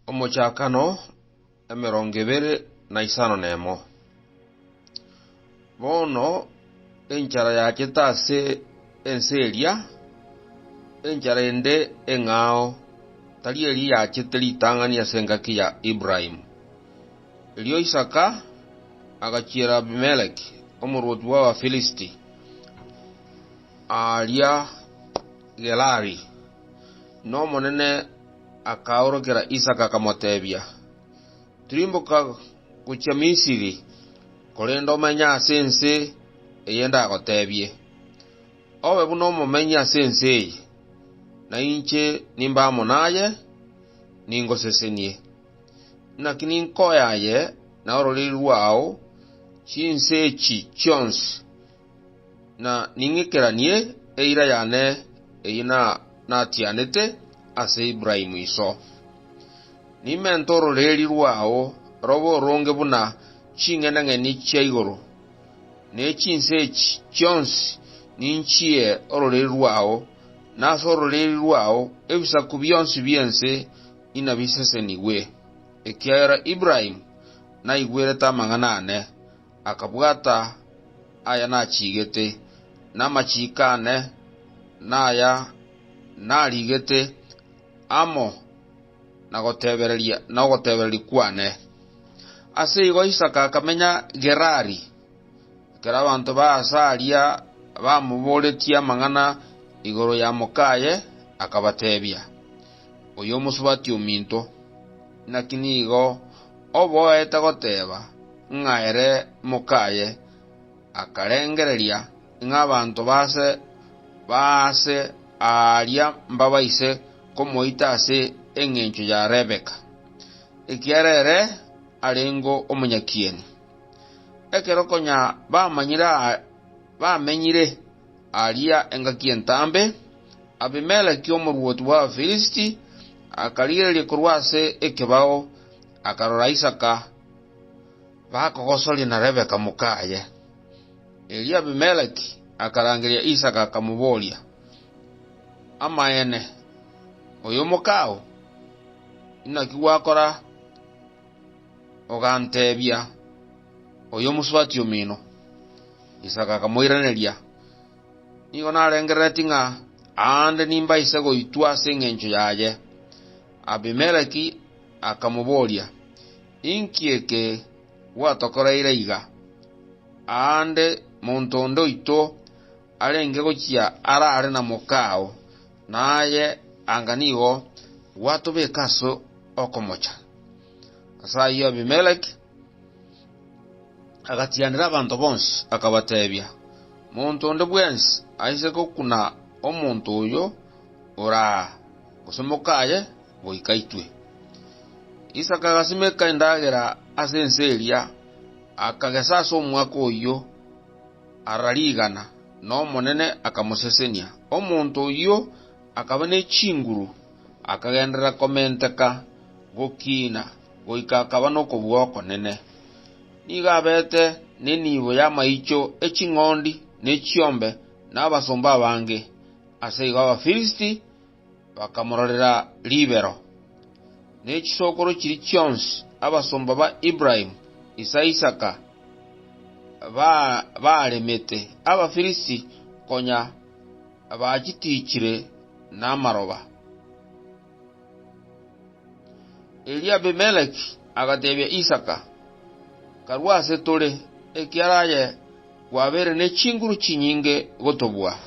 Omochakano emerongo ebere na isano nemo. Bono enchara yachete ase ense eria, enchara ende eng'ao, tari eri yachete ritang'ani ase engaki ya Ibrahimu. Erio Isaka agachiera Abimeleki, omorwoti bw'Abafilisti, aaria Gerari. Nomonene akaorokera Isaka akamotebia, Tirimboka gochia Misiri, korende omenye ase ense eye ndagotebie. Obe buna omomenyi ase ense eye, na inche nimbe amo naye, ningosesenie. Naki ninkoyaye na ororiri rwao chinse echi chionsi. na ning'ikeranie eira yane eyio natianete ase Ibrahimu iso. Nimente ororeeri rwao robe oronge buna ching'enang'eni chia igoro, ne chinse echi chionsi ninchie ororeeri rwao, na ase ororeeri rwao ebisaku bionsi bi'ense inabisesenigwe, ekiagera Ibrahimu naigwerete amang'ana aane. akabwata aya nachigete, na amachiiko aane naya narigete amo na gotebereria nogotebereria kwane. Ase igo Isaka akamenya Gerari, ekero abanto ba aase aria bamoboretie amang'ana igoro ya mokaye, akabatebia. oyomosubati ominto, naki nigo oboete goteba ng'a ere mokaye, akarengereria ng'a abanto b'aase b'aase aaria mbabaise komoita ase engencho ya Rebeka, ekiagera ere arengeo omonyakieni. Ekero konya bamanyire aya, bamenyire. Aaria engaki entambe, Abimeleki omorwoti bw'Abafirisiti akarigereria korwa ase ekebao, akarora Isaka bakogosoria na Rebeka mokaye. Erio Abimeleki akarangeria Isaka akamoboria, Amaene, oyomokao, inaki gwakora? Oganteebia, Oyomosubati omino. Isaka akamoiraneria, Nigo narengereretie ng'a aande nimbaise goitwa ase engencho yaye. Abimeleki akamoboria, Inki eke gwatokoreire iga? Aande monto onde oito arenge gochia arare na mokao. Na aye anga nigo gwatobeka ase okomocha. Ase ayio Abimeleki agatianera abanto bonsi, akabateebia, Monto onde bwensi aise gokuna omonto oyo ore aa, gose mokaye, goika aitwe. Isaka agasimeka endagera ase ense eria, akagesa ase omwaka oyio ara rigana, na Omonene akamosesenia. Omonto oyio akaba ne chinguru, akagenderera komenteka gokiina goika akaba nokobua okonene. Nigo abete nenibo y'amaicho e ching'ondi ne chiombe na abasomba abange. Ase igo Abafirisiti bakamororera ribero, ne chisokoro chiri chionsi, abasomba ba Ibrahimu, ise Isaka, baaremete Abafirisiti konya bachitiichire namaroba. Erio Abimeleki agateebia Isaka, Karue ase tore, ekiara aye kwabeire ne chinguru chinyinge gotobua.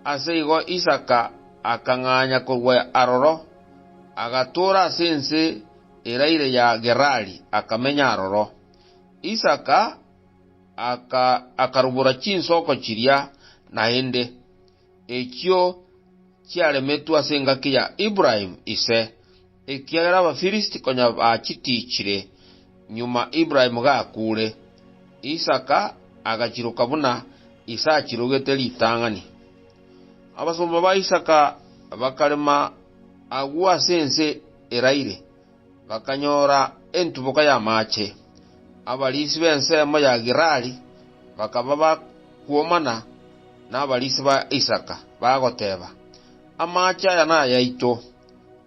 Ase igo Isaka akang'anya korwa aroro, agatoora ase ense eraire ya Gerari, akamenya aroro. Isaka akarubora chinsoko chiria naende, echio chiaremetwe ase engaki ya Ibrahimu ise. Ekiagera Abafilisti konya bachitichire nyuma Ibrahimu gakuure, Isaka agachiroka buna ise achirogete ritang'ani. Abasomba ba Isaka bakarema agwo ase ense eraire, bakanyora entuboka y'amaache. Abariisi b'ensemo ya Gerari bakaba bakwomana nabariisi ba Isaka, bagoteba, Amaache aya nayaito.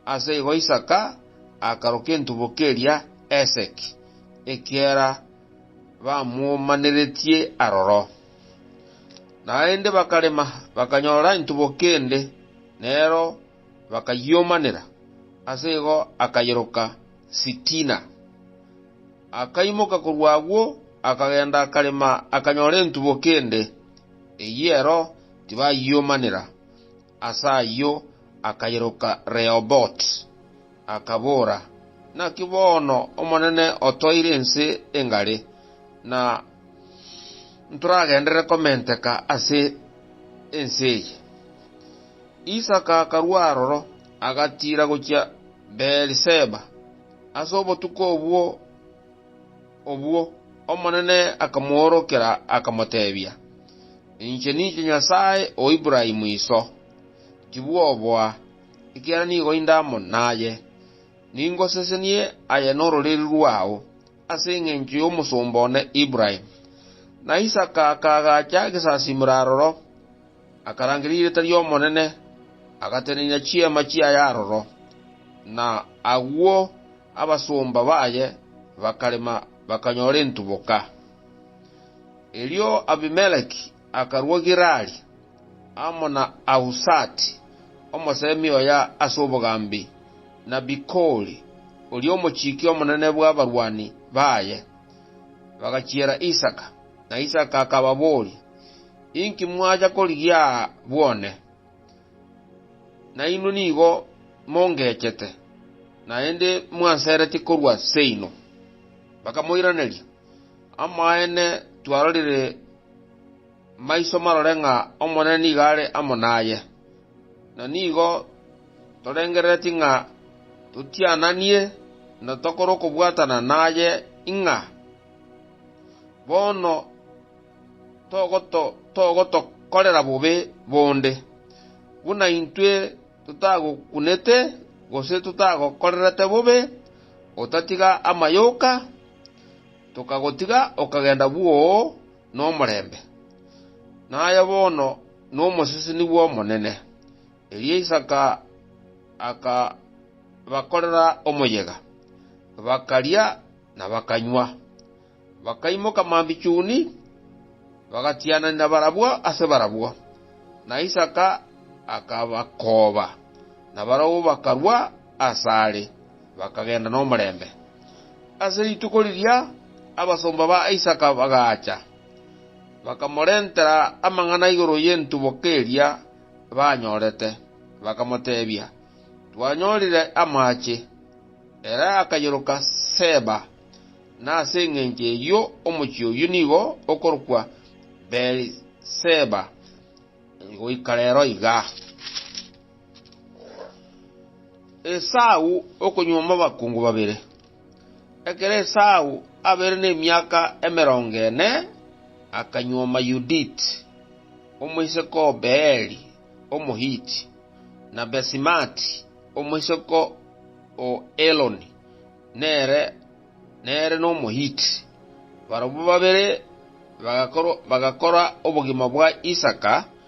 Ase igo Isaka akaroka entuboka eria Eseki, ekiagera bamomaneretie aroro. Naende bakarema, bakanyora entuboka ende, nero bakayiomanera, ase igo akayeroka Sitina. Akaimoka korwa agwo, akagenda akarema akanyora entuboka ende, eyio ero tibayiomanera. Ase ayio akairoka Rehobothi, akabora, Naki bono Omonene otoire ense engare, na ntoragenderere komenteka ase ense eye. Isaka akarua aroro, agatiira gochia Beeri-Seba. Ase obotuko obwo obwo Omonene akamoorokera, akamotebia, Inche ninche Nyasae o Ibrahimu iso. Tibwoboa, ekiagera nigo inde amo naye, ningosesenie aye nororeri rwao, ase engencho y'omosomba one Ibrahimu. Na Isaka akaagacha gesasimero aroro, akarangeria erieta ri'Omonene, agatenenia chiema chiaye aroro, na agwo abasomba baye bakarema bakanyora entuboka. Erio Abimeleki akarua Gerari, amo na Ahusati, omosemi oye ase obogambi, na Bikoli, oria omochiki omonene bw'abarwani baye. Bagachiera Isaka, na Isaka akababoria, Inki mwacha korigia aa bwone? Nainwe nigo mongechete, naende mwanseretie korwa seino. Bakamoiraneria, Amaene twarorire maiso marore ng'a Omonene nigo are amo naye, na nigo torengereretie ng'a totiananie na tokore okobwatana naye ing'a bono togotokorera bobe bonde, buna intwe totagokunete gose totagokorerete bobe, otatiga amayoka, tokagotiga okagenda bwoo nomorembe, naye bono nomoseseni bw'Omonene. Erio Isaka akabakorera omoyega, bakaria na bakanywa. Bakaimoka mambichuni, bagatiananera barabwo ase barabwo, na Isaka akabakooba, na barabwo bakarua. asare, bakagenda nomorembe. Ase rituko riria abasomba ba Isaka bagaacha, bakamorentera amang'ana igoro y'entuboka eria banyorete, bakamoteebia, Twanyorire amaache. Ere akayoroka Seeba, na ase engencho eyio omochie oyio nigo okorokwa Beeri-Seeba goika rero iga. Esau okonyuoma abakungu babere. Ekero Esau abeire nemiaka emerongo ene, akanyuoma Yuditi, omoiseke o Beeri Omohiti, na Basimati, omoiseke o Eloni, nere nere n'Omohiti. Barabwo babere bagakorwa bagakora obogima bwa Isaka,